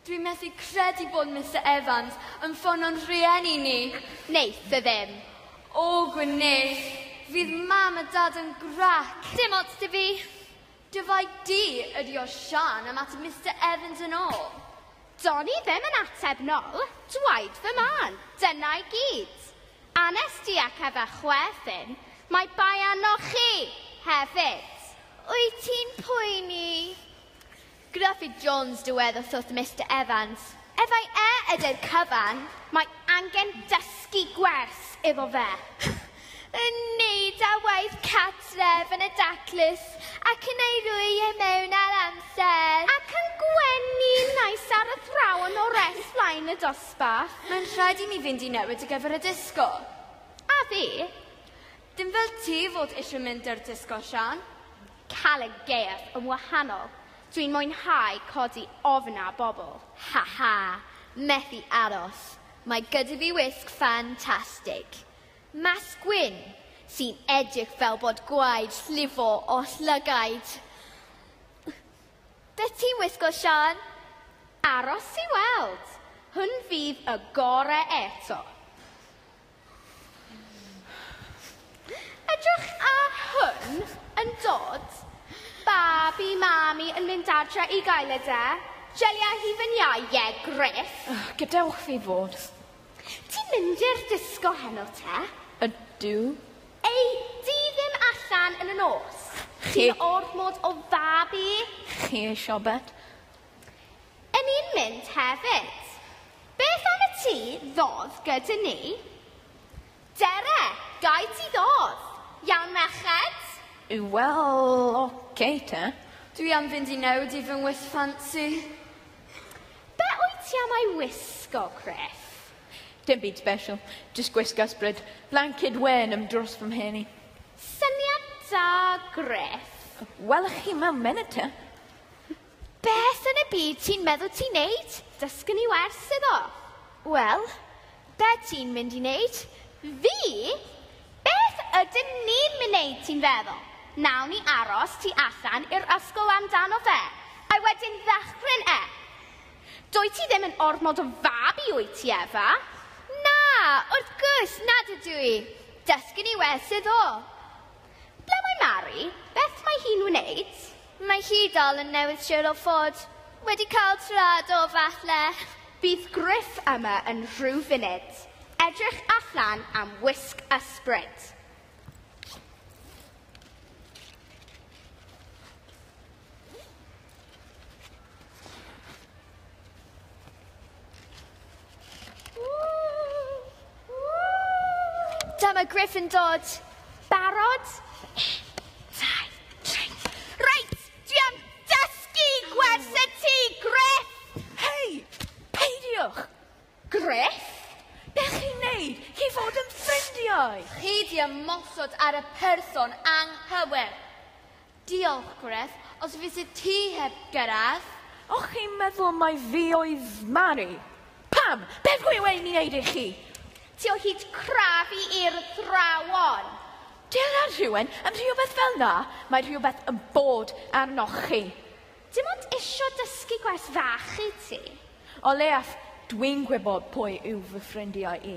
Dwi'n methu credu bod Mr Evans yn ffono'n rhieni ni. Neith fe ddim. O, gwneith. Fydd mam a dad yn grac. Dim ots ti fi. Dyfai du ydi o Siân ymateb Mister Evans yn ôl. Do'n i ddim yn ateb nol, dwaed fy mân, dyna i gyd. Anes di ac efe chwe ffin, mae bai arnoch chi, hefyd. Wyt ti'n poeni? Gruffydd Jones dywedodd wrth Mister Evans, Efai e ydy'r cyfan, mae angen dysgu gwers efo fe. yn wneud â waith cartref yn y daclus ac yn ei roi e mewn ar amser. Ac yn gwenu nais ar athrawon o res flaen y dosbarth. Mae'n rhaid i mi fynd i newid ar gyfer y disgo. A fi? Dim fel ti fod eisiau mynd ar disgo, Sian. Cael y gaeaf yn wahanol. Dwi'n mwynhau codi ofn ar bobl. Ha ha! Methu aros. Mae gyda fi wisg ffantastig. Maes gwyn, sy'n edrych fel bod gwaed llifo oll lygaid. Beth ti'n wisgo, Siân? Aros i weld. Hwn fydd y gore eto. Edrych ar hwn yn dod. Babi mami yn mynd adre i gael e de. Jeliau hufen iau, ie, Griff. Gadewch fi fod. Ti'n mynd i'r disgo heno te? Ydw. Ei di ddim allan yn y nos? Chi- Ti'n ormod o fab i. Chi ei siobet? Yn i'n mynd hefyd. Beth am y ti ddodd gyda ni? Dere, gai ti ddodd? Iawn merched? Wel, oce te. Dwi am fynd i newid i fy ngwith ffansi. Be wyt ti am ei wisgo, Griff? Dim byd special, just gwisg ysbryd. Blanced wen am dros fy mhen i. Syniad da, Griff. Welwch chi mewn munud te. Beth yn y byd ti'n meddwl ti'n neud? Dysgu ni wers iddo. Wel, be ti'n mynd i neud? Fi? Beth ydyn ni'n wneud ti'n feddwl? Nawn ni aros tu allan i'r ysgol amdano fe, a wedyn ddychryn e. Dwyt ti ddim yn ormod o fabi wyt ti, Efa? Na, wrth gwrs nad ydw i. Dysgu ni weld sydd o. Ble mae Mari? Beth mae hi'n wneud? Mae hi dal yn newydd siwr o fod wedi cael traed o falle. Bydd Griff yma yn rhyw funud. Edrych allan am wisg ysbryd. Dyma Griff yn dod. Barod? Dau, tri. Reit, dwi am dysgu gwers y ti, Griff! Hei, peidiwch! Griff? Be chi'n neud? Chi fod yn ffrindiau! Chi di ymosod ar y person anghywir. Diolch, Griff. Os fyset ti heb gyrraedd? O'ch chi'n meddwl mai fi oedd Mari? Pam? Beth dwi wedi wneud i chi? Ti o hyd crafu i i'r athrawon. Dillad rhywun yn rhywbeth fel 'na, mae rhywbeth yn bod arnoch chi. Dim ond isio dysgu gwers fach i ti. O leiaf, dwi'n gwybod pwy yw fy ffrindiau i.